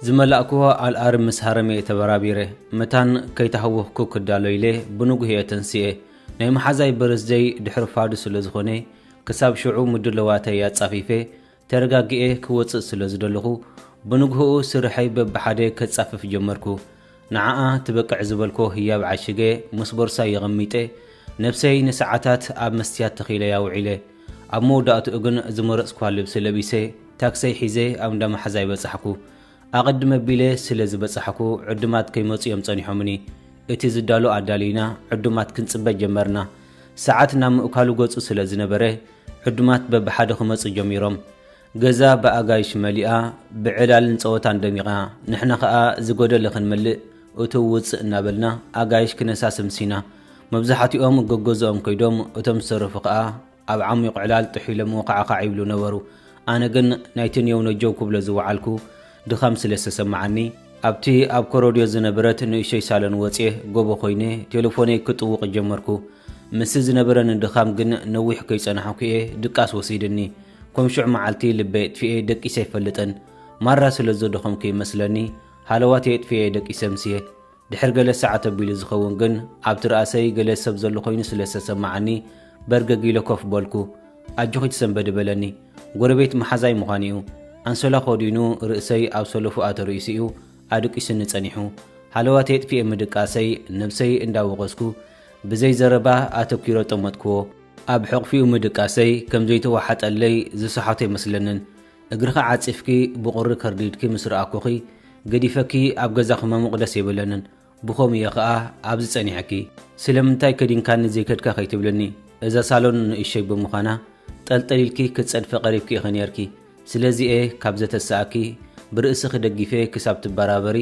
ዝመላእክዎ ኣልኣርም ምስ ሃረመ እየ ተበራቢረ መታን ከይተሃወኽኩ ክዳሎ ኢለ ብንጉህ እየ ተንስኤ ናይ መሓዛይ በርዝደይ ድሕሪ ፋዱ ስለ ዝኾነ ክሳብ ሽዑ ምድለዋተይ ኣጻፊፈ ተረጋጊኤ ክወጽእ ስለ ዝደለኹ፣ ብንግሆኡ ስርሐይ በብሓደ ከጻፍፍ ጀመርኩ። ንዓኣ ትበቅዕ ዝበልኮ ህያብ ዓሺገ ምስ ቦርሳይ የቐሚጠ፣ ነብሰይ ንሰዓታት ኣብ መስትያት ተኺለያ ውዒለ። ኣብ መወዳእትኡ ግን ዝመረጽኩዋ ልብሲ ለቢሰ ታክሰይ ሒዘ ኣብ እንዳ መሓዛይ በጻሕኩ። ኣቐድም ኣቢለ ስለ ዝበጻሕኩ ዕዱማት ከይመጹ እዮም ጸኒሖምኒ። እቲ ዝዳሎ ኣዳልዩና ዕዱማት ክንጽበ ጀመርና። ሰዓት ናብ ምእካሉ ገጹ ስለ ዝነበረ ዕዱማት በብሓደ ክመጹ ጀሚሮም። ገዛ ብኣጋይሽ መሊኣ ብዕላልን ጸወታን ደሚቓ። ንሕና ከኣ ዝጎደለ ክንመልእ እትው ውጽእ እናበልና ኣጋይሽ ክነሳሲ ኣምሲና። መብዛሕትኦም ገገዝኦም ከይዶም እቶም ዝተረፉ ከኣ ኣብ ዓሚቕ ዕላል ጥሒሎምዎ ካዕካዕ ይብሉ ነበሩ። ኣነ ግን ናይቲ ኔው ነጀው ክብሎ ዝወዓልኩ ድኻም ስለ ዝተሰመዓኒ፣ ኣብቲ ኣብ ኮሮድዮ ዝነበረት ንእሽቶይ ሳሎን ወጽየ ጎቦ ኮይነ ቴለፎነይ ክጥውቕ ጀመርኩ። ምስቲ ዝነበረኒ ድኻም ግን ነዊሕ ከይጸናሕኩ'የ ድቃስ ወሲድኒ። ኮም ሽዑ መዓልቲ ልበይ ኣጥፊኤ ደቂሰ ኣይፈልጥን። ማራ ስለ ዘደኸምኩ ይመስለኒ ሃለዋተይ ኣጥፊኤ'የ ደቂሰ ምስየ። ድሕሪ ገለ ሰዓት ኣቢሉ ዝኸውን ግን ኣብቲ ርኣሰይ ገለ ሰብ ዘሎ ኮይኑ ስለ ዝተሰመዓኒ በርገግ ኢለ ኮፍ በልኩ። ኣጆኺ ትሰንበዲ በለኒ። ጎረቤት መሓዛይ ምዃኑ'ዩ። ኣንሶላ ከዲኑ ርእሰይ ኣብ ሰለፉኣ ተርኢሱ'ዩ ኣድቂሱኒ ጸኒሑ። ሃለዋተይ ኣጥፊኤ ምድቃሰይ ነብሰይ እንዳ ወቐስኩ ብዘይ ዘረባ ኣተኲረ ጠመትክዎ። ኣብ ሕቕፊኡ ምድቃሰይ ከም ዘይተዋሓጠለይ ዝሰሓቶ ኣይመስለንን። እግርኺ ዓጺፍኪ ብቑሪ ከርዲድኪ ምስ ረኣኩኺ ገዲፈኪ ኣብ ገዛኺ መሙቕ ደስ ኣይበለንን ብኸምኡ እየ ከኣ ኣብዚ ጸኒሐኪ ስለምንታይ ከዲንካኒ ዘይከድካ ከይትብልኒ እዛ ሳሎን ንእሽቶይ ብምዃና ጠልጠል ኢልኪ ክትጸድፊ ቀሪብኪ ኢኺ ኔርኪ ስለዚ እየ ካብ ዘተስኣኪ ብርእስኺ ደጊፈ ክሳብ ትበራበሪ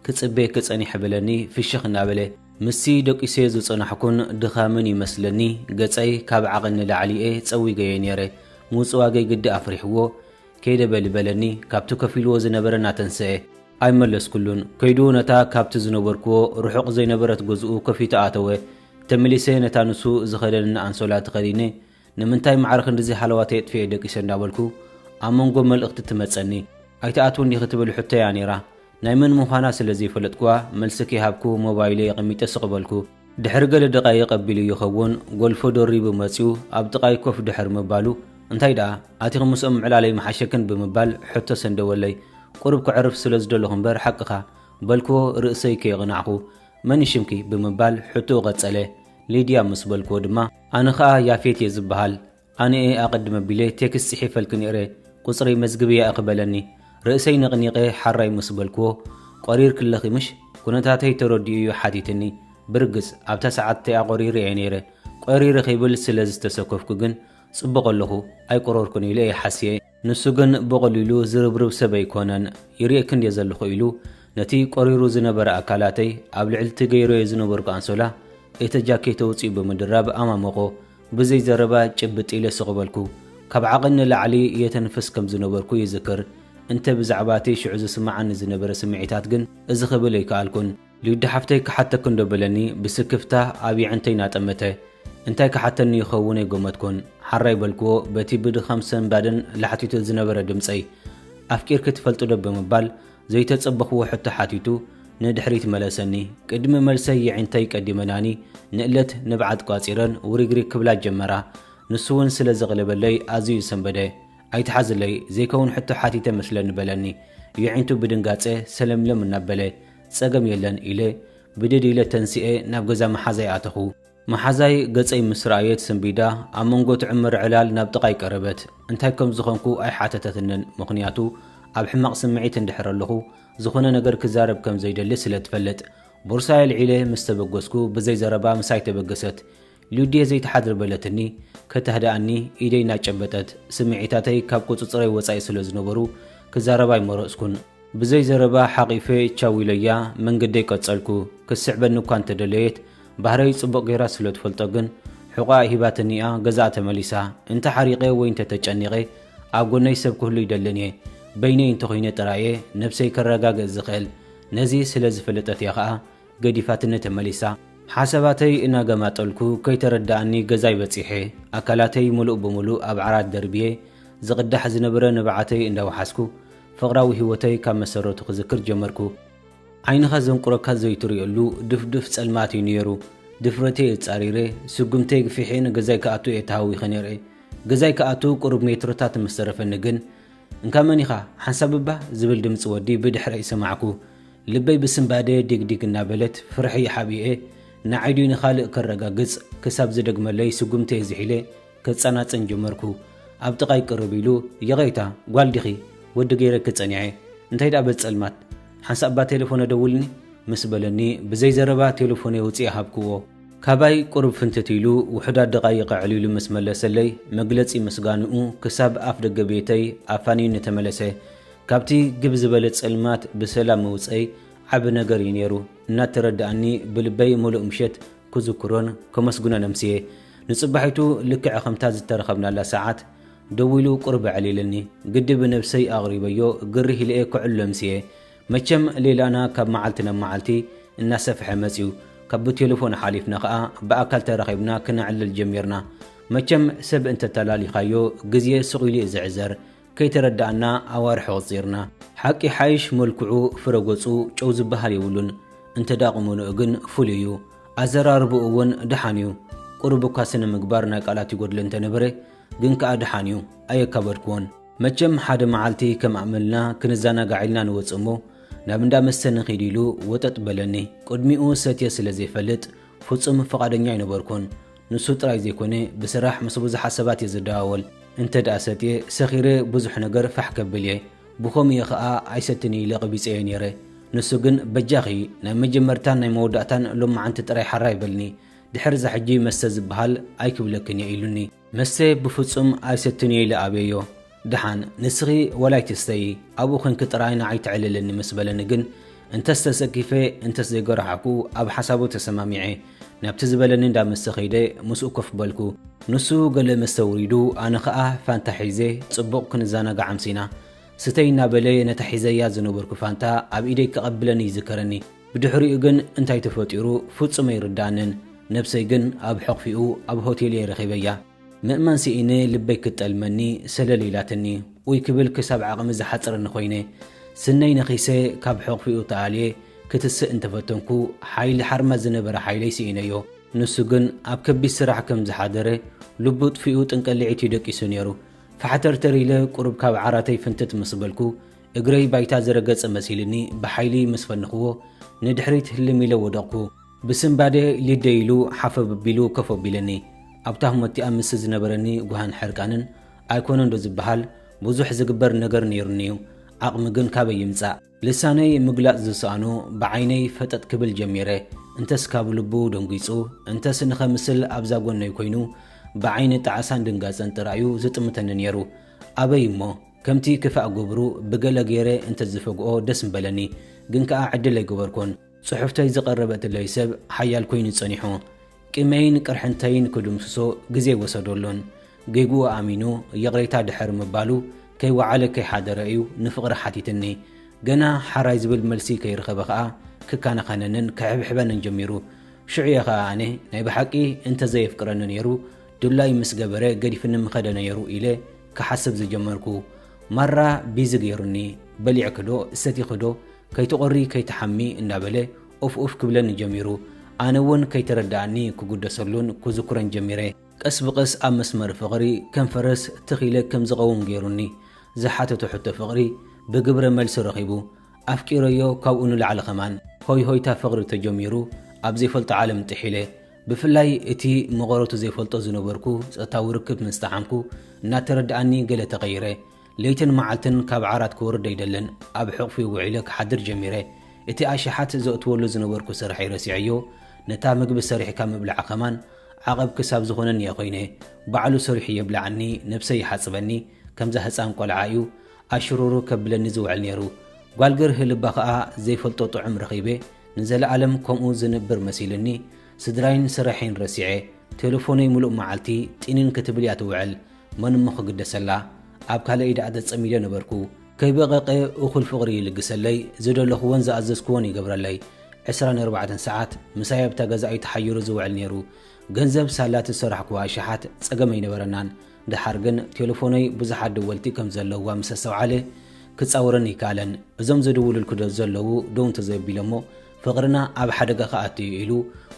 ክጽበየኪ ጸኒሐ በለኒ ፍሽኽ እናበለ ምስቲ ደቂሰዮ ዝጸናሕኩን ድኻምን እዩ መስለኒ ገጸይ ካብ ዓቕን ንላዕሊ እየ ጸዊገዮ ኔረ ምውጽዋገይ ግዲ ኣፍሪሕዎ ከይደ በሊ በለኒ ካብቲ ከፊልዎ ዝነበረ ናተንሰኤ ኣይመለስኩሉን ከይዱ ነታ ካብቲ ዝነበርክዎ ርሑቕ ዘይነበረት ገዝኡ ከፊቱ ኣተወ ተመሊሰ ነታ ንሱ ዝኸደነኒ ኣንሶላ ተኸዲነ ንምንታይ ማዕረ ክንድዚ ሃለዋተይ ኣጥፊኤ ደቂሰ እንዳበልኩ ኣብ መንጎ መልእኽቲ ትመጸኒ ኣይትኣትውን ዲኺ ትብል ሕቶ'ያ ኔራ። ናይ መን ምዃና ስለ ዘይፈለጥኩዋ መልሲ ከይሃብኩ ሞባይለይ ኣቐሚጠ ስቕ በልኩ። ድሕሪ ገለ ደቓይቕ ኣቢሉ ይኸውን ጎልፎ ደሪቡ መጺኡ ኣብ ጥቓይ ኮፍ ድሕሪ ምባሉ እንታይ ደኣ ኣቲኺ ምስኦም ምዕላለይ ምሓሸክን ብምባል ሕቶ ሰንደወለይ። ቁሩብ ከዕርፍ ስለ ዝደለኹ እምበር ሓቅኻ። በልኩዎ ርእሰይ ከየቕናዕኹ። መን'ዩ ሽምኪ? ብምባል ሕቶኡ ቀጸለ። ሊድያ ምስ በልኩዎ ድማ። ኣነ ከኣ ያፌት እየ ዝብሃል ኣነ'የ ኣቀድም ኣቢለ ቴክስት ጺሒፈልኪ ኔረ ቁጽረይ መዝግብያ እኺ በለኒ ርእሰይ ነቅኒቀ ሐራይ ምስ በልክዎ ቆሪርኪ ኣለኺ ምሽ ኩነታተይ ተረዲኡ እዩ ሓቲትኒ ብርግጽ ኣብታ ሰዓት እቲኣ ቆሪረ እየ ኔረ ቆሪረ ክብል ስለ ዝተሰከፍኩ ግን ጽቡቅ ኣለኹ ኣይቆረርኩን ኢለ እየ ሓስየ ንሱ ግን ብቐሊሉ ዝርብርብ ሰብ ኣይኰነን። ይርእየኪ እንድየ ዘለኹ ኢሉ ነቲ ቈሪሩ ዝነበረ ኣካላተይ ኣብ ልዕሊ'ቲ ገይረዮ ዝነበርኩ ኣንሶላ እቲ ጃኬት ኣውጺኡ ብምድራብ ኣማመቖ። ብዘይ ዘረባ ጭብጥ ኢለ ስቕ በልኩ። ካብ ዓቕን ንላዕሊ የተንፍስ ከም ዝነበርኩ ይዝክር። እንተ ብዛዕባ'ቲ ሽዑ ዝስምዓኒ ዝነበረ ስምዒታት ግን እዚ ክብል ኣይከኣልኩን። ሊዱ ሓፍተይ ክሓተኪ እንዶ በለኒ ብስክፍታ ኣብ የዕንተይ ናጠመተ እንታይ ክሓተኒ ይኸውን ኣይጎመትኩን ሓራይ በልክዎ በቲ ብድኻም ሰንባድን ላሕቲቱ ዝነበረ ድምጸይ ኣፍቂርኪ ትፈልጥዶ ብምባል ዘይተጸበኽዎ ሕቶ ሓቲቱ ንድሕሪት መለሰኒ ቅድሚ መልሰይ የዒንተይ ቀዲመናኒ ንእለት ንብዓት ቋጺረን ውሪግሪግ ክብላ ጀመራ ንሱውን ስለ ዘቕለበለይ ኣዝዩ ሰንበደ ኣይትሓዝለይ ዘይከውን ሕቶ ሓቲተ መስለኒ በለኒ የዒንቱ ብድንጋጸ ሰለምለም እናበለ ጸገም የለን ኢለ ብድድ ኢለ ተንሲኤ ናብ ገዛ መሓዛይ ኣተኹ። መሓዛይ ገጸይ ምስ ረኣየት ሰንቢዳ ኣብ መንጎ ትዕምር ዕላል ናብ ጥቓይ ቀረበት። እንታይ ከም ዝኾንኩ ኣይሓተተትንን ምኽንያቱ ኣብ ሕማቕ ስምዒት እንድሕር ኣለኹ ዝኾነ ነገር ክዛረብ ከም ዘይደሊ ስለ ትፈልጥ። ቦርሳይ ኣልዒለ ምስ ተበገስኩ ብዘይ ዘረባ ምሳይ ተበገሰት። ሉድየ ዘይትሓድር በለትኒ፣ ከተህድኣኒ ኢደይ እናጨበጠት። ስምዒታተይ ካብ ቁጽጽረይ ወጻኢ ስለ ዝነበሩ ክዛረብ ኣይመረጽኩን። ብዘይ ዘረባ ሓቚፈ ቻው ኢለያ መንገደይ ቀጸልኩ። ክትስዕበኒ እኳ እንተ ደለየት፣ ባህረይ ጽቡቕ ገይራ ስለ ትፈልጦ ግን ሕቖኣ ሂባትኒ'ያ ገዛኣ ተመሊሳ። እንተ ሓሪቐ ወይ እንተ ተጨኒቐ ኣብ ጎነይ ሰብ ክህሉ ይደልን'የ። በይነይ እንተ ኹይነ ጥራይ'የ ነብሰይ ከረጋግእ ዝኽእል። ነዚ ስለ ዝፈለጠት'ያ ከኣ ገዲፋትኒ ተመሊሳ። ሓሳባተይ እናገማጠልኩ ከይተረደኣኒ ገዛይ በጺሐ፣ ኣካላተይ ምሉእ ብምሉእ ኣብ ዓራት ደርብየ፣ ዝቕዳሕ ዝነበረ ንብዓተይ እንዳወሓስኩ ፍቕራዊ ህይወተይ ካብ መሰረቱ ክዝክር ጀመርኩ። ዓይንኻ ዘንቁረካ ዘይትርእየሉ ድፍዱፍ ጸልማት እዩ ነይሩ። ድፍረተይ ኣጻሪረ፣ ስጉምተይ ግፊሐ ንገዛይ ክኣቱ እየ ተሃዊኸ ነይረ። ገዛይ ክኣቱ ቁሩብ ሜትሮታት ምስ ተረፈኒ ግን፣ እንካ መን ኢኻ? ሓንሳብ እባ ዝብል ድምጺ ወዲ ብድሕረይ ሰማዕኩ። ልበይ ብስንባደ ዲግዲግ እናበለት ፍርሒ ሓቢኤ ንዓይ ድዩ ንኻልእ ከረጋግጽ ክሳብ ዝደግመለይ ስጉምተይ ዝሒለ ከጸናጽን ጀመርኩ። ኣብ ጥቓይ ቅርብ ኢሉ ይቕሬታ ጓል ዲኺ ወዲ ገይረኪ ጸኒዐ እንታይ ድኣ በዚ ጸልማት ሓንሳእ እባ ቴለፎን ኣደውልኒ ምስ በለኒ ብዘይ ዘረባ ቴለፎነይ ኣውጺኤ ሃብክዎ። ካባይ ቁሩብ ፍንትት ኢሉ ውሑዳት ደቓይቕ ኣዕሊሉ ምስ መለሰለይ መግለጺ ምስጋንኡ ክሳብ ኣፍደገ ቤተይ ኣፋንዩኒ ተመለሰ። ካብቲ ግብ ዝበለ ጸልማት ብሰላም ምውጸይ ዓቢ ነገር እዩ ነይሩ እናተረድኣኒ ብልበይ ምሉእ ምሸት ክዝክሮን ከመስግኖን ኣምስየ። ንጽባሒቱ ልክዕ ከምታ ዝተረኸብናላ ሰዓት ደዊሉ ቁሩብ ኣዕሊልኒ። ግዲ ብነብሰይ ኣቕሪበዮ ግርህ ኢለ'የ ከዕሉ ኣምስየ። መቸም ሌላና ካብ መዓልቲ ናብ መዓልቲ እናሰፍሐ መጽዩ። ካብ ብቴለፎን ሓሊፍና ከኣ ብኣካል ተራኺብና ክነዕልል ጀሚርና። መቸም ሰብ እንተተላሊኻዮ ግዜ ስቕ ኢሉ'ዩ ዝዕዘር። ከይተረዳእና ኣዋርሕ ኣቁጺርና። ሓቂ ይሓይሽ መልክዑ ፍረ ገጹ ጨው ዝብሃል የብሉን እንተ ቁመንኡ ግን ፍሉይ እዩ ኣዘራርብኡ ውን ድሓን እዩ ቁሩብ እኳ ስነ ምግባር ናይ ቃላት ይጎድሎ እንተ ነበረ ግን ከኣ ድሓን እዩ ኣየካበድክዎን መቸም ሓደ መዓልቲ ከም ኣእመልና ክንዛናጋዕ ኢልና ንወጽእ እሞ ናብ እንዳ መስተ ንኺድ ኢሉ ወጠጥ በለኒ ቅድሚኡ ሰትየ ስለ ዘይፈልጥ ፍጹም ፍቃደኛ ኣይነበርኩን ንሱ ጥራይ ዘይኮነ ብስራሕ ምስ ብዙሓት ሰባት እየ ዝደዋወል። እንተድኣ ሰትየ ሰኺረ ብዙሕ ነገር ፋሕ ከብል እየ። ብኸምኡ እየ ኸኣ ኣይሰትን ኢለ ቐቢጸዮ ነይረ። ንሱ ግን በጃኺ ናይ መጀመርታን ናይ መወዳእታን ሎማዓንቲ ጥራይ ሓራይ በልኒ። ድሕር'ዛ ሕጂ መስተ ዝብሃል ኣይክብለክን እየ ኢሉኒ። መስተ ብፍጹም ኣይሰትን እየ ኢለ ኣብየዮ። ድሓን ንስኺ ዋላ ኣይትስተዪ ኣብኡ ዄንኪ ጥራይ ንዓይ ተዕልልኒ ምስ በለኒ ግን፣ እንተስ ተሰኪፈ እንተስ ዘይጎራሓዕኩ ኣብ ሓሳቡ ተሰማሚዐ ናብቲ ዝበለኒ እንዳ መስተ ከይደ ምስኡ ኮፍ በልኩ። ንሱ ገለ መስተ ኣውሪዱ ኣነ ከኣ ፋንታ ሒዘ ጽቡቕ ክንዘናጋዕ ኣምሲና። ስተዪ እናበለ ነታ ሒዘያ ዝነበርኩ ፋንታ ኣብ ኢደይ ከቐብለኒ ይዝከረኒ። ብድሕሪኡ ግን እንታይ ተፈጢሩ ፍጹም ኣይርድኣንን። ነብሰይ ግን ኣብ ሕቝፊኡ ኣብ ሆቴል'የ ረኺበያ። ምእማን ስኢነ ልበይ ክትጠልመኒ ሰለል ኢላትኒ ኡይ ክብል ክሳብ ዓቕሚ ዝሓጽረኒ ኮይነ ስነይ ነኺሰ ካብ ሕቕፊኡ ተኣልየ ክትስእ እንተፈተንኩ ሓይሊ ሓርማዝ ዝነበረ ሓይለይ ስኢነዮ ንሱ ግን ኣብ ከቢድ ስራሕ ከም ዝሓደረ ልቡ ጥፊኡ ጥንቀሊዒት እዩ ደቂሱ ነይሩ ፋሕተርተር ኢለ ቁሩብ ካብ ዓራተይ ፍንትት ምስ በልኩ እግረይ ባይታ ዝረገጸ መሲልኒ ብሓይሊ ምስ ፈንኽዎ ንድሕሪት ህልም ኢለ ወደቕኩ ብስንባደ ሊደ ኢሉ ሓፈብ ኣቢሉ ኮፍ ኣቢለኒ። ኣብታ ህሞትቲኣ ምስቲ ዝነበረኒ ጕሃን ሕርቃንን ኣይኰነንዶ ዝበሃል ብዙሕ ዝግበር ነገር ነይሩኒ'ዩ። ዓቕሚ ግን ካበይ ይምጻእ? ልሳነይ ምግላጽ ዝሰኣኖ ብዓይነይ ፈጠጥ ክብል ጀሚረ። እንተስ ካብ ልቡ ደንጒጹ፣ እንተስ ንኸምስል ኣብዛ ጐነይ ኰይኑ ብዓይኒ ጣዕሳን ድንጋጸን ጥራይ'ዩ ዝጥምተኒ ነይሩ። ኣበይ እሞ! ከምቲ ክፋእ ግብሩ ብገለ ገይረ እንተ ዝፈግኦ ደስ ምበለኒ። ግን ከኣ ዕድል ኣይገበርኩን። ጽሑፍተይ ዝቐረበትለይ ሰብ ሓያል ኮይኑ ጸኒሑ ቂመይን ቅርሕንተይን ክድምስሶ ግዜ ኣይወሰደሉን። ጌግኡ ኣሚኑ ይቕሬታ ድሕሪ ምባሉ ከይወዓለ ከይሓደረ እዩ ንፍቕሪ ሓቲትኒ። ገና ሓራይ ዝብል መልሲ ከይረኸበ ከኣ ክከናኸነንን ክሕብሕበንን ጀሚሩ። ሽዑ እየ ከኣ ኣነ ናይ ብሓቂ እንተ ዘየፍቅረኒ ነይሩ ድላይ ምስ ገበረ ገዲፍኒ ምኸደ ነይሩ ኢለ ክሓስብ ዝጀመርኩ። ማራ ቢዚ ገይሩኒ። በሊዕኪዶ ሰቲኺዶ ከይትቖሪ ከይትሓሚ እንዳበለ ኡፍ ኡፍ ክብለኒ ጀሚሩ። ኣነ ውን ከይተረደኣኒ ክጉደሰሉን ኩዝኩረን ጀሚረ። ቀስ ብቐስ ኣብ መስመር ፍቕሪ ከም ፈረስ ትኽ ኢለ ከም ዝቐውም ገይሩኒ። ዝሓተቶ ሕቶ ፍቕሪ ብግብረ መልሲ ረኺቡ። ኣፍቂረዮ ካብኡ ንላዕሊ ከማን። ሆይ ሆይታ ፍቕሪ ተጀሚሩ ኣብ ዘይፈልጦ ዓለም ጥሒለ። ብፍላይ እቲ መቐረቱ ዘይፈልጦ ዝነበርኩ ጾታዊ ርክብ ምስ ጠዓምኩ እናተረደኣኒ ገለ ተቐይረ። ለይትን መዓልትን ካብ ዓራት ክወርድ ኣይደልን፣ ኣብ ሕቕፉ ውዒለ ክሓድር ጀሚረ። እቲ ኣሽሓት ዘእትወሉ ዝነበርኩ ስርሐይ ረሲዐዮ፣ ነታ ምግቢ ሰሪሕካ ምብላዕ ከማን ዓቐብ ክሳብ ዝኾነኒ'የ ኮይነ። ባዕሉ ሰሪሑ የብልዓኒ፣ ነብሰይ ይሓጽበኒ፣ ከምዛ ህጻን ቆልዓ'ዩ ኣሽሩሩ ከብለኒ ዝውዕል ነይሩ። ጓል ገርሂ ልባ ከኣ ዘይፈልጦ ጥዑም ረኺበ፣ ንዘለኣለም ከምኡ ዝንብር መሲሉኒ። ስድራይን ስርሐይን ረሲዐ፣ ቴለፎነይ ምሉእ መዓልቲ ጢንን ክትብል'ያ ትውዕል። መን እሞ ክግደሰላ ኣብ ካልእ ኢዳ ተጸሚደ ነበርኩ ከይበቐቐ እኹል ፍቕሪ ይልግሰለይ ዝደለኹዎን ዝኣዘዝኩዎን ይገብረለይ ዕስራን ኣርባዕተን ሰዓት ምሳይ ኣብታ ገዛ'ዩ ተሓይሩ ዝውዕል ኔሩ ገንዘብ ሳላ ትዝሰራሕኩዎ ኣሽሓት ጸገም ኣይነበረናን ደሓር ግን ቴለፎነይ ብዙሓት ደወልቲ ከም ዘለዉዋ ምስ ኣስተውዓለ ክጻወረኒ ኣይከኣለን እዞም ዝድውሉልኪ ዶ ዘለዉ ደው እንተዘይኣቢሎሞ ፍቕርና ኣብ ሓደጋ ክኣቱ'ዩ ኢሉ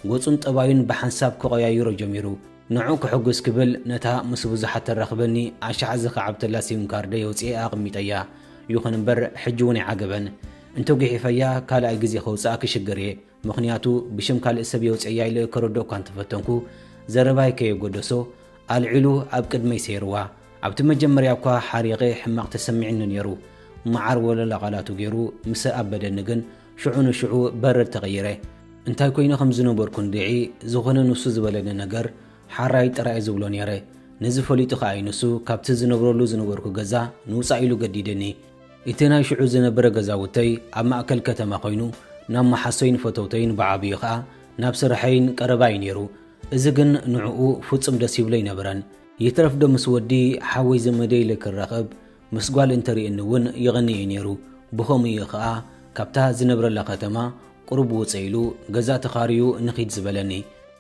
ገጹን ጠባዩን ብሓንሳብ ክቐያይሮ ጀሚሩ ንዑ ክሕጉስ ክብል ነታ ምስ ብዙሓት ተራኽበኒ ኣሻዕ ዝኸዓብተላ ሲም ካርደይ ኣውጺኤ ኣቐሚጠያ። ይኹን እምበር ሕጂ እውን ኣይዓገበን። እንተ ጒሒፈያ ካልኣይ ግዜ ከውጽኣ ክሽገር እየ። ምኽንያቱ ብሽም ካልእ ሰብ የውጽኤያ ኢለ ከረድኦ'ኳ እንተፈተንኩ ዘረባይ ከየጐደሶ ኣልዒሉ ኣብ ቅድመይ ሰይርዋ። ኣብቲ መጀመርያ'ኳ ሓሪቐ ሕማቕ ተሰሚዕኒ ነይሩ። መዓር ወለላ ቃላቱ ገይሩ ምስ ኣበደኒ ግን ሽዑ ንሽዑ በረድ ተቐይረ። እንታይ ኮይነ ከም ዝነበርኩ እንድዒ፣ ዝኾነ ንሱ ዝበለኒ ነገር ሓራይ ጥራይ'የ ዝብሎ ነይረ። ነዚ ፈሊጡ ከኣ'ዩ ንሱ ካብቲ ዝነብረሉ ዝነበርኩ ገዛ ንውጻእ ኢሉ ገዲድኒ። እቲ ናይ ሽዑ ዝነበረ ገዛውተይ ኣብ ማእከል ከተማ ኮይኑ፣ ናብ መሓሶይን ፈተውተይን ብዓብይኡ ከኣ ናብ ስርሐይን ቀረባ'ዩ ነይሩ። እዚ ግን ንዕኡ ፍጹም ደስ ይብሎ ኣይነበረን። ይትረፍዶ ምስ ወዲ ሓወይ ዘመደይ ኢለ ክራኸብ ምስ ጓል እንተርእየኒ እውን ይቕኒ እዩ ነይሩ። ብኸምኡ እዩ ኸኣ ካብታ ዝነብረላ ከተማ ቁሩብ ውጽእ ኢሉ ገዛ ተኻርዩ ንኺድ ዝበለኒ።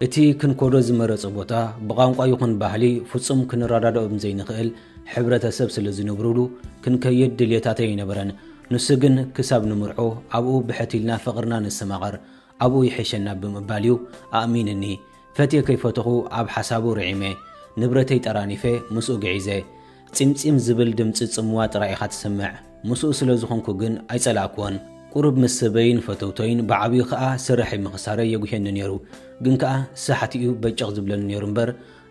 እቲ ክንከዶ ዝመረጸ ቦታ ብቛንቋ ይኹን ባህሊ ፍጹም ክንረዳድኦም ዘይንኽእል ሕብረተሰብ ስለ ዝነብሩሉ ክንከይድ ድልየታት ኣይነበረን። ንሱ ግን ክሳብ ንምርዖ ኣብኡ ብሕት ኢልና ፍቕርና ነስተማቕር፣ ኣብኡ ይሕሸና ብምባል እዩ ኣእሚንኒ። ፈትየ ከይፈተኹ ኣብ ሓሳቡ ርዒመ። ንብረተይ ጠራኒፈ ምስኡ ግዒዘ። ጺምጺም ዝብል ድምጺ ጽምዋ ጥራይ ኢኻ ትስምዕ። ምስኡ ስለ ዝኾንኩ ግን ኣይጸላእክዎን። ቁሩብ ምስ ሰበይን ፈተውቶይን ብዓብዩ ከኣ ስርሐይ ምኽሳረይ የጉህየኒ ነይሩ። ግን ከኣ ሳሕቲ'ዩ በጨቕ ዝብለኒ ነይሩ እምበር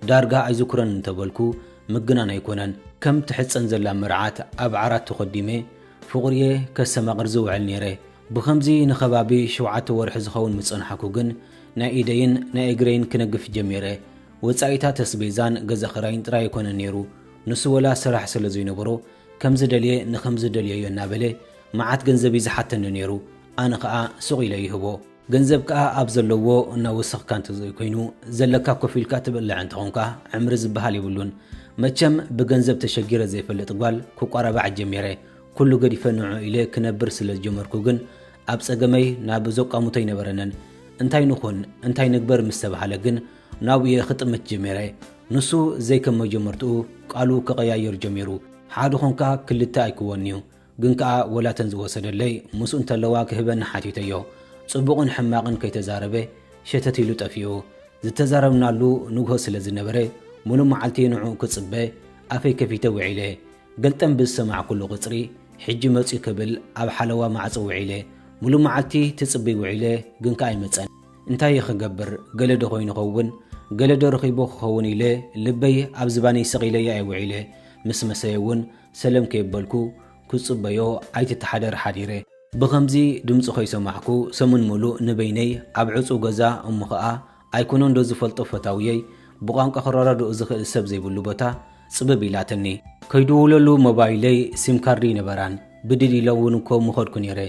ዳርጋ ኣይዝኩሮን እንተ በልኩ ምግናን ኣይኮነን። ከም ትሕጸን ዘላ መርዓት ኣብ ዓራት ተኾዲመ ፍቑሪ'የ ከስተማቕር ዝውዕል ነይረ። ብኸምዚ ንኸባቢ ሸውዓተ ወርሒ ዝኸውን ምስ ጸናሕኩ ግን ናይ ኢደይን ናይ እግረይን ክነግፍ ጀሚረ። ወጻኢታት ኣስቤዛን ገዛ ክራይን ጥራይ ኣይኮነን ነይሩ፣ ንሱ ወላ ስራሕ ስለ ዘይነበሮ ከምዚ ደልየ ንኸምዚ ደልየዮ እናበለ መዓት ገንዘብ እዩ ዝሓተኒ ነይሩ፣ ኣነ ኸኣ ሱቕ ኢለ ይህቦ። ገንዘብ ከኣ ኣብ ዘለዎ እናወሰኽካ እንተዘይኮይኑ ዘለካ ኮፍ ኢልካ ትበልዕ እንተኾንካ ዕምሪ ዝበሃል የብሉን። መቸም ብገንዘብ ተሸጊረ ዘይፈልጥ ጓል ክቋራባዕ ጀሚረ። ኩሉ ገዲፈ ንዕኡ ኢለ ክነብር ስለ ዝጀመርኩ ግን ኣብ ጸገመይ ናብ ዘቋሙተይ ነበረንን። እንታይ ንኹን እንታይ ንግበር ምስ ተባህለ ግን ናብየ ክጥምት ጀሚረ ንሱ ዘይከም መጀመርትኡ ቃሉ ክቐያይር ጀሚሩ ሓደ ኾንካ ክልተ ኣይክወንዩ ግን ከኣ ወላተን ዝወሰደለይ ምስኡ እንተለዋ ክህበኒ ሓቲተዮ ጽቡቕን ሕማቕን ከይተዛረበ ሸተት ኢሉ ጠፊኡ ዝተዛረብናሉ ንግሆ ስለ ዝነበረ ሙሉ መዓልቲ ንዕኡ ክጽበ ኣፈይ ከፊተ ውዒለ ገልጠም ብዝሰማዕኩሉ ቅጽሪ ሕጂ መጽዩ ክብል ኣብ ሓለዋ ማዕጾ ውዒለ ሙሉ መዓልቲ ትጽብይ ውዒለ ግን ከኣ ኣይመጸን እንታይ'የ ክገብር ገለ'ዶ ኮይኑ ኸውን ገለ'ዶ ረኺቡ ክኸውን ኢለ ልበይ ኣብ ዝባነይ ስቕ ኢለያ'የ ውዒለ። ምስ መሰየ'ውን ሰለም ከየበልኩ ክጽበዮ ኣይትተሓደር ሓዲረ። ብኸምዚ ድምጹ ከይሰማዕኩ ሰሙን ምሉእ ንበይነይ ኣብ ዕጹው ገዛ እሞ ኸኣ ኣይኮነን'ዶ ዝፈልጦ ፈታውየይ ብቋንቋ ክረዳድኦ ዝኽእል ሰብ ዘይብሉ ቦታ ጽብብ ኢላትኒ። ከይድውለሉ ሞባይለይ ሲም ካርድ ኣይነበራን ብድድ ኢለ'ውን እኮ ምኸድኩ ነይረ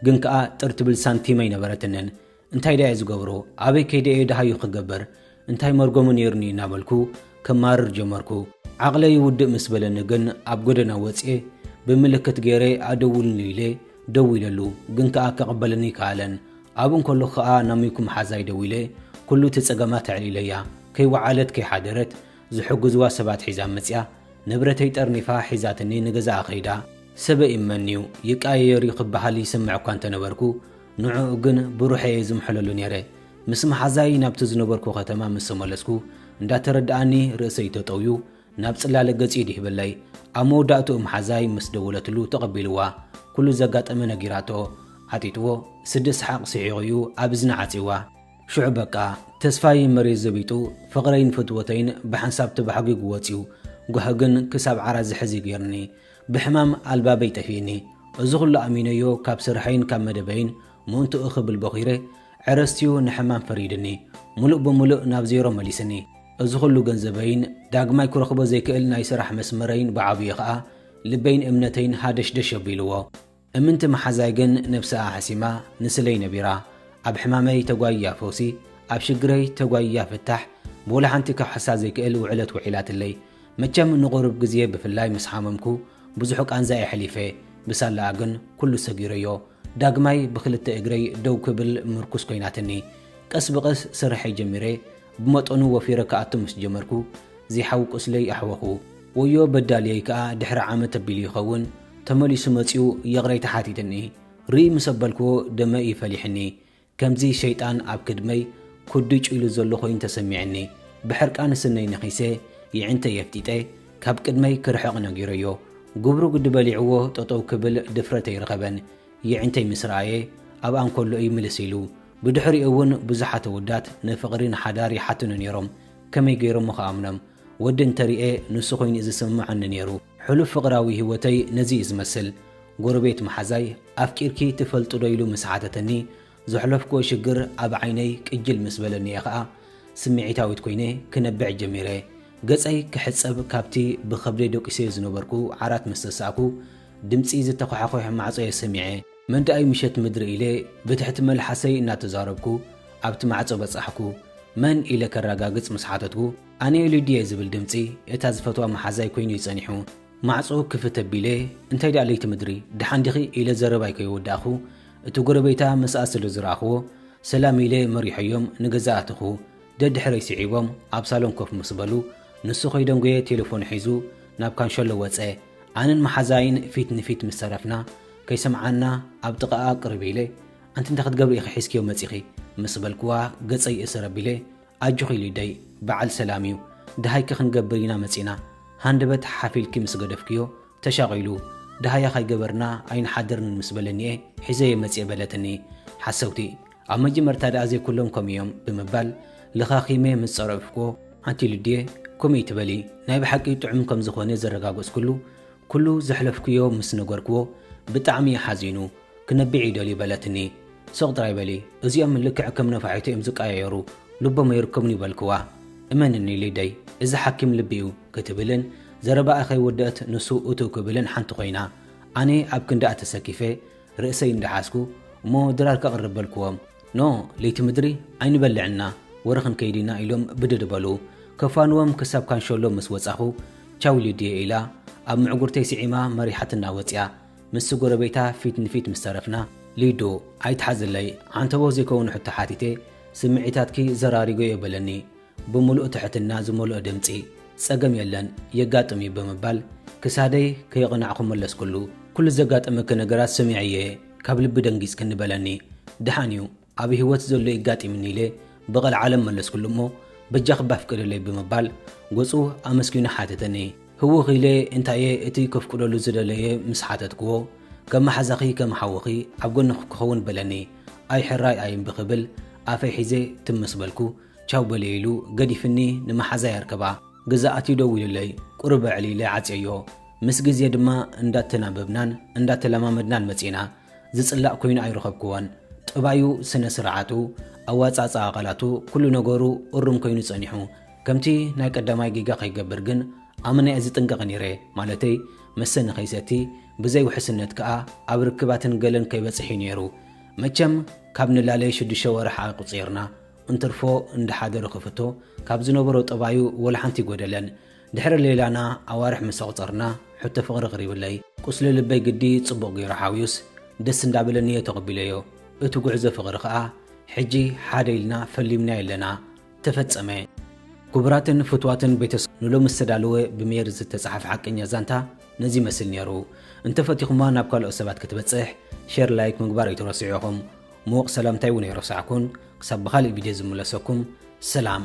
ግን ከኣ ጥር ትብል ሳንቲም ኣይነበረትንን። እንታይ ደኣየ ዝገብሮ፣ ኣበይ ከይደ'የ ደሃዩ ክገብር፣ እንታይ መርገሙ ነይሩኒ እናበልኩ ከማርር ጀመርኩ። ዓቕለይ ውድእ ምስ በለኒ ግን ኣብ ጎደና ወጺኤ ብምልክት ገይረ ኣደውልሉ ኢለ ደዊለሉ፣ ግን ከኣ ክቕበለኒ ኣይከኣለን። ኣብኡ እንከለኹ ከኣ ናብ ሚኩ መሓዛይ ደዊለ ኩሉ እቲ ጸገማት ኣዕሊለያ። ከይወዓለት ከይሓደረት ዝሕግዙዋ ሰባት ሒዛ መጺኣ። ንብረተይ ጠርኒፋ ሒዛትኒ ንገዛኣ ከይዳ። ሰበይ እመን'ዩ፣ ይቀያየር'ዩ ክበሃል ይሰምዕ'ኳ እንተነበርኩ፣ ንዕኡ ግን ብሩሐ እየ ዝምሕለሉ ነይረ። ምስ መሓዛይ ናብቲ ዝነበርኩ ከተማ ምስ ተመለስኩ፣ እንዳተረድኣኒ ርእሰይ ተጠውዩ ናብ ጽላለ ገጹ ይድህበለይ። ኣብ መወዳእትኡ መሓዛይ ምስ ደወለትሉ ተቐቢልዋ ኩሉ ዘጋጠመ ነጊራቶ። ዓጢጥዎ ስዲ ሰሓቕ ስሒቑ እዩ ኣብ እዝና ዓጽይዋ። ሽዑ በቃ ተስፋይ መሬት ዘቢጡ ፍቕረይን ፍትወተይን ብሓንሳብ ተባሕጒጉ ወጽዩ። ጓሂ ግን ክሳብ ዓራት ዝሕዝ እዩ ገይሩኒ። ብሕማም ኣልባበይ ጠፊእኒ እዚ ኩሉ ኣሚነዮ ካብ ስርሐይን ካብ መደበይን ምእንትኡ ክብል ቦኺረ ዕረስትዩ ንሕማም ፈሪድኒ ሙሉእ ብሙሉእ ናብ ዜሮ መሊስኒ እዚ ኩሉ ገንዘበይን ዳግማይ ክረኽቦ ዘይክእል ናይ ስራሕ መስመረይን ብዓብዩ ከኣ ልበይን እምነተይን ሃደሽደሽ ኣቢልዎ እምንቲ መሓዛይ ግን ነብሰኣ ሓሲማ ንስለይ ነቢራ ኣብ ሕማመይ ተጓይያ ፈውሲ ኣብ ሽግረይ ተጓይያ ፍታሕ ብወላ ሓንቲ ክውሕሳ ዘይክእል ውዕለት ውዒላትለይ መቸም ንቁሩብ ግዜ ብፍላይ ምስ ሓመምኩ ብዙሕ ቃንዛ የሕሊፈ ብሳላኣ ግን ኩሉ ሰጊረዮ ዳግማይ ብክልተ እግረይ ደው ክብል ምርኩስ ኮይናትኒ ቀስ ብቀስ ስርሐይ ጀሚረ ብመጠኑ ወፊረ ክኣቱ ምስ ጀመርኩ ዚሓው ቁስለይ ኣሕወኹ ወዮ በዳልየይ ከኣ ድሕሪ ዓመት ኣቢሉ ይኸውን ተመሊሱ መጺኡ ይቕሬታ ሓቲትኒ ርእይ ምስ ኣበልክዎ ደመ እዩ ፈሊሕኒ ከምዚ ሸይጣን ኣብ ክድመይ ኩድጭ ኢሉ ዘሎ ኮይኑ ተሰሚዕኒ ብሕርቃን ስነይ ነኺሰ ይዕንተይ ኣፍጢጠ ካብ ቅድመይ ክርሕቕ ነጊረዮ ጉብሩ ግዲ በሊዕዎ ጠጠው ክብል ድፍረት ኣይረኸበን ይዕንተይ ምስ ረኣየ ኣብኣ እንከሎ እዩ ምልስ ኢሉ ብድሕሪኡ እውን ብዙሓት ኣወዳት ንፍቕሪ ንሓዳር ይሓቱኒ ነይሮም ከመይ ገይሮሞ ክኣምኖም ወዲ እንተሪኤ ንሱ ኮይኑ እዩ ዝስምመዐኒ ነይሩ ሕሉፍ ፍቕራዊ ህይወተይ ነዚ እዩ ዝመስል። ጎረቤት መሓዛይ፣ ኣፍቂርኪ ትፈልጢዶ ኢሉ ምስ ሓተተኒ፣ ዘሕለፍክዎ ሽግር ኣብ ዓይነይ ቅጅል ምስ በለኒ እየ ከኣ ስምዒታዊት ኮይነ ክነብዕ ጀሚረ። ገጸይ ክሕጸብ ካብቲ ብኸብደይ ደቂሰዮ ዝነበርኩ ዓራት ምስ ተሳእኩ፣ ድምጺ ዝተዃሓዂሕ ማዕጾ'የ ሰሚዐ። መን ደኣ'ዩ ምሸት ምድሪ ኢለ ብትሕቲ መልሓሰይ እናተዛረብኩ ኣብቲ ማዕጾ በጻሕኩ። መን? ኢለ ከረጋግጽ ምስ ሓተትኩ፣ ኣነ ኢሉ ድየ ዝብል ድምጺ እታ ዝፈትዋ መሓዛይ ኮይኑ'ዩ ጸኒሑ። ማዕጾ ክፍት ኣቢለ፣ እንታይ ድኣ ለይቲ ምድሪ፣ ደሓን ዲኺ? ኢለ ዘረባይ ከየወዳእኩ፣ እቲ ጎረቤታ ምስኣ ስለ ዝረኣኹዎ፣ ሰላም ኢለ መሪሖዮም ንገዛ ኣተኹ። ደድሕረይ ስዒቦም ኣብ ሳሎን ኮፍ ምስ በሉ፣ ንሱ ከይደንጎየ ቴለፎኑ ሒዙ ናብ ካንሸሎ ወጸ። ኣነን መሓዛይን ፊት ንፊት ምስ ተረፍና፣ ከይሰምዓና ኣብ ጥቓኣ ቅርብ ኢለ፣ ኣንቲ እንታይ ክትገብሪ ኢኺ ሒዝክዮ መጺኺ? ምስ በልኩዋ ገጸይ እሰር ኣቢለ፣ ኣጆኺ ሊደይ በዓል ሰላም እዩ ደሃይኪ ክንገብር ኢና መፂና ሃንደበት ሓፍ ኢልኪ ምስ ገደፍክዮ ተሻቒሉ ደሃያ ካይገበርና ኣይንሓድርን ምስ በለኒ'የ ሒዘዮ መፂኤ በለትኒ ሓሰውቲ ኣብ መጀመርታ ደኣ ዘይኩሎም ከምኡ እዮም ብምባል ለኻኺመ ምስ ፀረፍኩዎ ኣንቲ ልድየ ከምኡ እይትበሊ ናይ ብሓቂ ጥዑም ከምዝኾነ ዘረጋገፅኩሉ ኩሉ ዘሕለፍክዮ ምስ ነገርኩዎ ብጣዕሚ እዩ ሓዚኑ ክነብዕ ይደልዩ በለትኒ። ስቕ ጥራይ በሊ፣ እዚኦም ልክዕ ከም ነፋሒቶ እዮም ዝቀያየሩ፣ ልቦም ኣይርከቡን'ዩ በልክዋ። እመንኒ ሊደይ፣ እዚ ሓኪም ልቢ'ዩ ክትብልን ዘረባኣ ከይወደእት ንሱ እትው ክብልን ሓንቲ ኮይና። ኣነ ኣብ ክንድኣ ተሰኪፈ ርእሰይ እንዳሓዝኩ፣ እሞ ድራር ከቕርብ በልክዎም። ኖ ለይቲ ምድሪ ኣይንበልዕን ኢና፣ ወረ ክንከይድ ኢና ኢሎም ብድድ በሉ። ከፋንዎም ክሳብ ካንሸሎ ምስ ወጻኹ፣ ቻው ሊድየ ኢላ ኣብ ምዕጉርተይ ስዒማ መሪሓትና ወጽያ። ምስ ጎረቤታ ፊት ንፊት ምስ ተረፍና፣ ሊዱ ኣይትሓዝለይ፣ ዓንተቦ ዘይከውን ሕቶ ሓቲተ፣ ስምዒታትኪ ዘራሪገዮ በለኒ ብምሉእ ትሕትና ዝመልኦ ድምጺ። ጸገም የለን፣ የጋጥም'ዩ ብምባል ክሳደይ ከየቕናዕኩ መለስኩሉ። ኩሉ ዘጋጠመኪ ነገራት ሰሚዐ'የ፣ ካብ ልቢ ደንጊጽክኒ በለኒ። ደሓን'ዩ፣ ኣብ ህይወት ዘሎ የጋጢምኒ ኢለ ብቐልዓለም መለስኩሉ እሞ በጃኺ እባ ፍቀደለይ ብምባል ገጹ ኣመስጊኑ ሓተተኒ። ህውኽ ኢለ እንታይ'የ እቲ ከፍቅደሉ ዝደለየ ምስ ሓተትክዎ፣ ከም መሓዛኺ ከም ሓውኺ ኣብ ጎንኺ ክኸውን በለኒ። ኣይ ሕራይ ኣይ እምቢ ክብል ኣፈይ ሒዘ ትም ምስ በልኩ፣ ቻው በልየ ኢሉ ገዲፍኒ ንመሓዛይ ኣርከባ። ገዛ ኣትዩ ደዊሉለይ ቁሩብ ኣዕልይለ ዓጽየዮ። ምስ ግዜ ድማ እንዳተናበብናን እንዳተለማመድናን መጺእና። ዝጽላእ ኮይኑ ኣይረኸብክዎን። ጠባዩ፣ ስነ ስርዓቱ፣ ኣወጻጽኣ ቃላቱ ኩሉ ነገሩ እሩም ኮይኑ ጸኒሑ። ከምቲ ናይ ቀዳማይ ጌጋ ከይገብር ግን ኣመና'የ ዝጥንቀቕ ኔረ፣ ማለተይ መሰ ንኸይሰቲ፣ ብዘይ ውሕስነት ከኣ ኣብ ርክባትን ገለን ከይበጽሕ'ዩ ኔሩ። መቸም ካብ ንላለ ሽዱሽተ ወርሕ ኣቁጺርና። እንትርፎ እንዳ ሓደሩ ክፍቶ ካብ ዝነበሮ ጠባዩ ወላሓንቲ ኣይጎደለን። ድሕሪ ሌላና ኣዋርሕ ምስ ኣቑጸርና ሕቶ ፍቕሪ ኣቕሪብለይ። ቁስሊ ልበይ ግዲ ጽቡቕ ገይሩ ሓውዩስ ደስ እንዳበለኒ'የ ተቐቢለዮ። እቲ ጉዕዞ ፍቕሪ ከኣ ሕጂ ሓደ ኢልና ፈሊምናዮ ኣለና። ተፈጸመ! ኩቡራትን ፍትዋትን ቤተሰ። ንሎሚ ዝተዳለወ ብሜሪ ዝተጻሓፈ ሓቀኛ ዛንታ ነዚ ይመስል ኔሩ እንተፈቲኹማ ናብ ካልኦት ሰባት ክትበጽሕ ሸር ላይክ ምግባር ኣይትረስዑ ኢኹም ሙዉቕ ሰላምታይ ዉን ኣይረሳዕኩን ክሳብ ብኻሊእ ቪድዮ ዝምለሰኩም ሰላም